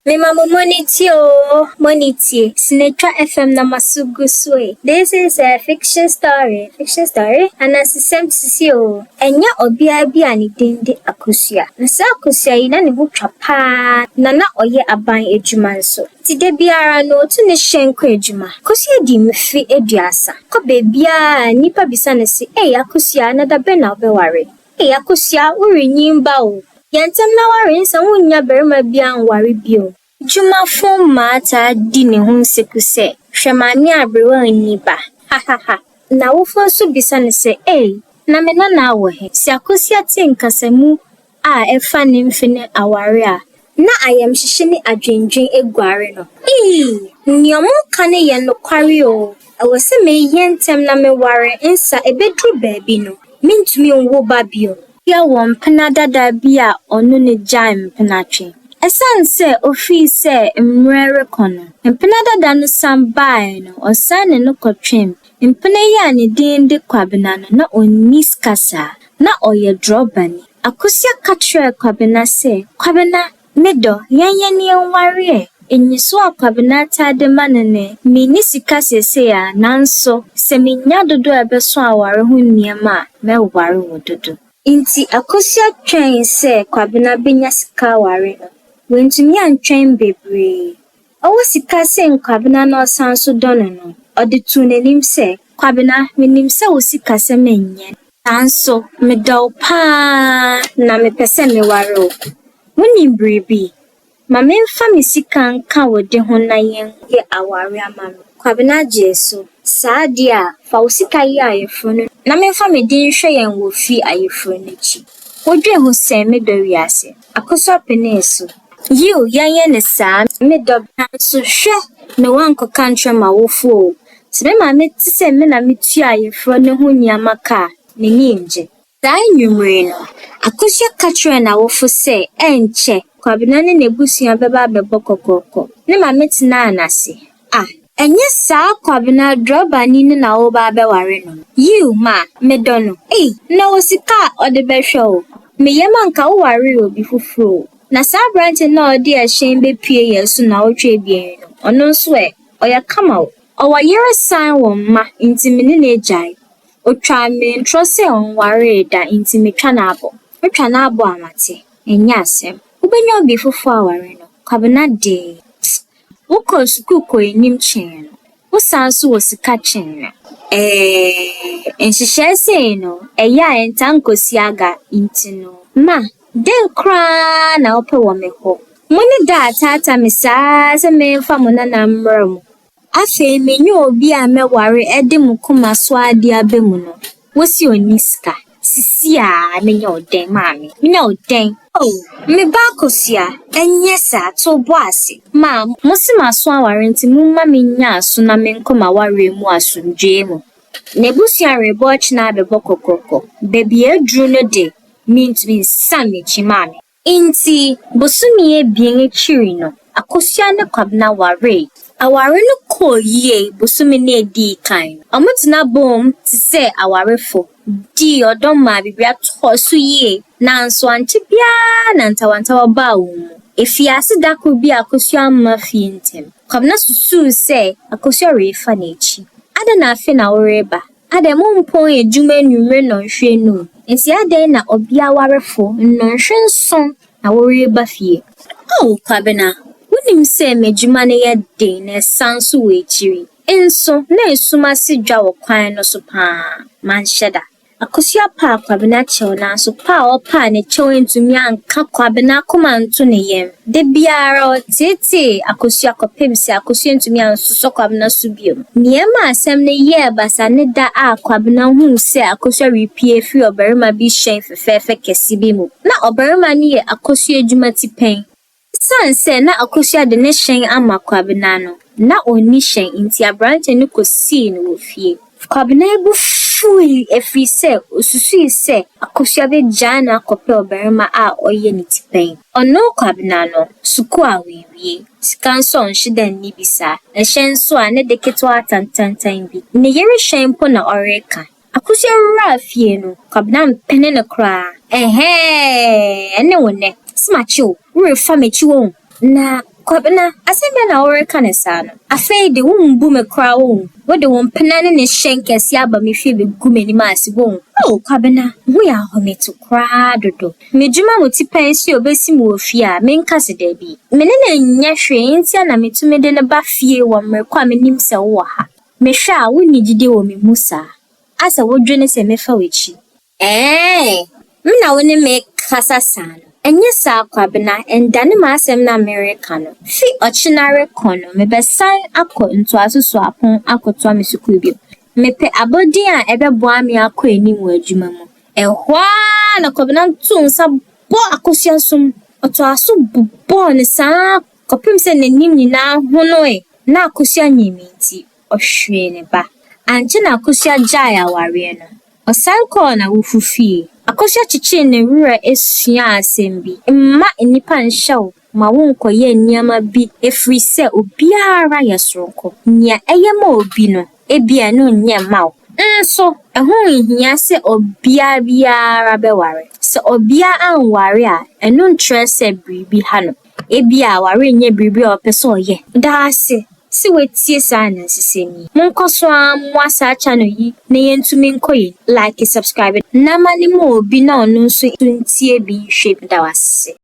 Mema mo m'ani tie oo, m'ani tie, Sinetwa FM na m'aso gu so e. This is a fiction story, fiction story, Anansesɛm sisi oo. Ɛnyɛ ɔbea bi a ne din de Akosua. Na saa Akosua yi na ne ho twa paa na na ɔyɛ aban adwuma nso. Nti da biara no otu ne hyɛn kɔ adwuma. Akosua di mfe aduasa. Ɔkɔ baabiara a nnipa bisa no se, Ei Akosua, na da bɛn na wobɛware? Ei Akosua, worenyin ba o. Yɛ ntɛm na ware nsɛ wonnya barima biara nware bio. Dwumafo mmaa taa di ne ho nseku sɛ, Hwɛ maame aberewa a onni ba! Hahaha! N'awofo nso bisa no sɛ, Ei, na me nanaa wɔ he? Sɛ Akosua te nkasamu a ɛfa ne mfe ne aware a, Na ayamhyehye ne adwendwen aguare no. Eii! Nea wɔka no yɛ nokware oo, ɛwɔ sɛ meyɛ ntɛm na meware nsa, ebeduru baabi no, merentumi nwo ba bio. Ɔbea wɔ mpena dada bi a ɔne no gyae mpenatwe. Esiane sɛ ofii sɛ mmere rekɔ no, mpena dada no san bae no, ɔsan ne no kɔtwem. Mpena yi a ne din de Kwabena no, na onni sika saa. Ná ɔyɛ drɔbani. Akosua ka kyerɛɛ Kwabena sɛ, Kwabena, me dɔ, yɛn yɛne nware ɛ. Nniso a Kwabena taa de ma no ne, Minni sika seesei ara, nanso sɛ minya dodo a ɛbɛso aware ho nneɛma a, mɛware wo dodo. Enti Akosua twɛn sɛ Kwabena benya sika aware no. Wantumi antwɛn bebree. Ɔwɔ sika sen Kwabena na ɔsan nso dɔ no no, ɔde too n'anim sɛ. Kwabena, menim sɛ wo sikasɛm nyɛ. Nanso medɔ wo pa ara na mepɛ sɛ meware wo. Wonim biribi? Ma memfa me sika nka wo de ho na yɛn. Yɛ aware ama me. Kwabena gyee so. Saa deɛ a, fa wo sika yi ayeforo no. Na memfa me de nhwɛ yɛn wɔ fie ayeforo no akyi. Wodwen ho sɛn, me dɔ wiase. Akosua penee so. Yiw, yɛnyɛ no saa. Me dɔ, bra nso. Hwɛ! Me woankɔka nkyerɛ m'awofo oo. Sɛ me maame te sɛ me na mitua ayeforo no ho nneɛma ka a, n'ani ngye. Saa anwummere no, Akosua ka kyerɛɛ n'awofo sɛ ɛnkyɛ Kwabena ne n'abusua bɛba abɛbɔ kɔkɔɔkɔ. Ne maame tenaa no ase. Ah, ɛnyɛ saa Kwabena drɔbani no na woreba abɛware no no? Yiw, ma, medɔ no. Ei, na ɔwɔ sika a ɔde bɛhwɛ wo. Me yam anka wowaree obi foforo o. Na saa aberante no a ɔde ɛhyɛn bepuee yɛn so nnawɔtwe abien yi no, ɔno nso ɛ? Ɔyɛ kama o. Ɔwɔ yere san wɔ mma, enti me ne no agyae. Otwaa me ntorɔ sɛ ɔnwaree da, enti metwa no abo. Metwa no abo a, mate? Ɛnyɛ asɛm. Wobenya obi foforo aware no, Kwabena dee. Psst! Wokɔ sukuu kɔ anim kyɛn no, wosan nso wɔ sika kyɛn no. Ɛɛ, nhyehyɛe sei no, ɛyɛ a ɛntaa nkosi aga nti no. Ma, dɛn koraa na wopɛ wɔ me hɔ? Mo ne da a taataa me saa sɛ memfa mo nana mmara mu. Afei menye obi a mɛware de mo koma so ade aba mu no. Wo se ɔnni sika. Sisi a menya wo dɛn maame? Menya wo dɛn? Oh, me ba Akosua, ɛnyɛ saa, to wo bo ase. Ma. Mo se m'aso aware nti momma mennya aso na menkɔ m'awareɛ mu asomdwoeɛ mu. N'abusua rebɔ ɔkyena abɛbɔ kɔkɔkɔ. Baabi a aduru no de, mentumi nsan m'akyi maame. Enti, bosome abien akyiri no, Akosua ne Kwabena waree. Aware no kɔɔ yie bosome no a edii kan no. Wɔtena boom te sɛ awarefo, dii ɔdɔ maa biribiara kɔɔ so yie. Nanso ankyɛ biara na ntawantawa baa wɔn mu. Efii ase da koro bi a Akosua amma fie ntɛm. Kwabena susuw sɛ Akosua refa n'akyi. Adɛn na afei na woreba? Adɛn, mompɔn adwuma anwummere nnɔnhwere anum? Enti adɛn na ɔbea awarefo nnɔnhwere nson na woreba fie? Ao Kwabena, wunim sɛ m'adwuma no yɛ den na ɛsan nso wɔ akyiri. Nso, na esum ase dwa wɔ kwan no so paa. Manhyɛ da. Akosua paa Kwabena kyɛw nanso paa a ɔpaa ne kyɛw antumi anka Kwabena akoma anto ne yam. Da biara ɔteetee akosua kɔpem sɛ akosua ntumi ansosɔ Kwabena so bio. Nea ɛma asɛm no yɛɛ basaa ne da a Kwabena huu sɛ akosua repue afiri ɔbarima bi hyɛn fɛfɛɛfɛ kɛse bi mu. Ná ɔbarima no yɛ akosua adwuma tipɛn. Esiane sɛ na akosua de ne hyɛn ama Kwabena no, na onni hyɛn nti aberante no kosii no wɔ fie. Kwabena bo fuwii ɛfiri sɛ ɔsusui sɛ Akosua bɛgyae no akɔpɛ ɔbarima a ɔyɛ ne ti pɛn. Ɔno, Kwabena no, sukuu a ɔawie, sika nso a ɔnhye da nni bi saa, ɛhyɛ nso a ne de ketewaa tantantan bi, ne yere hyɛn mpo na ɔreka. Akosua wuraa fie no, Kwabena ampene no koraa, Ɛhɛɛ, ɛne wo nnɛ? Se makye wo, worefa m'akyi wɔ hu? Na Kwabena, asɛm bɛn na woreka no saa no? Afei de, wombu me koraa wohu? Wode wo mpena ne ne hyɛn kɛse aba me fie bɛgu m'anim ase wohu? Oh, Kwabena, me ho yɛ ahometew koraa dodo. M'adwuma mu tipɛn nso yɛ obesi me wɔ fie a, menka se dabi. Me ne no nyɛ hwee enti na metumi de no ba fie wɔ mmere ko a menim sɛ wowɔ ha. Mehwɛ a, wunni gyidi wɔ me mu saa. Asa wodwene sɛ mɛfa w'akyi. Eeii me na wo ne me kasa saa no ɛnyɛ saa Kwabena ɛndane m'asɛm no a mereka no fi ɔkyena rekɔ no mebɛsan akɔ ntoaso suapɔn akɔtoa me sukuu bio mepɛ abɔdin a ɛbɛboa me akɔ anim wɔ adwuma mu ɛhɔ ara na Kwabena too nsa bɔɔ akosua so mu ɔtoaa so bobɔɔ no saa kɔpem sɛ n'anim nyinaa honoe na akosua nyinii nti ɔhweree ne ba. Ankyɛ na Akosua gyaee awareɛ no. Ɔsan kɔɔ n'awofo fie. Akosua kyekyee ne werɛ suaa asɛm bi, Mma nnipa nhyɛ wo ma wonkɔyɛ nneɛma bi ɛfiri sɛ obiara yɛ soronko. Nea ɛyɛ ma obi no, ebia ɛno nyɛ mma wo. Nso, ɛho nhia sɛ ɔbea biara bɛware. Sɛ ɔbea anware a, ɛno nkyerɛ sɛ biribi ha no. Ebia warenyɛ biribi a ɔpɛ sɛ ɔyɛ. Da ase sɛ woatie saa anansesɛm yi. Monkɔ so ara mmoa saa channel yi na yɛntumi nkɔ yɛn anim. Like, subscribe, na ma no ma obi na ɔno nso ntie bi nhwɛ bi. Meda wo ase.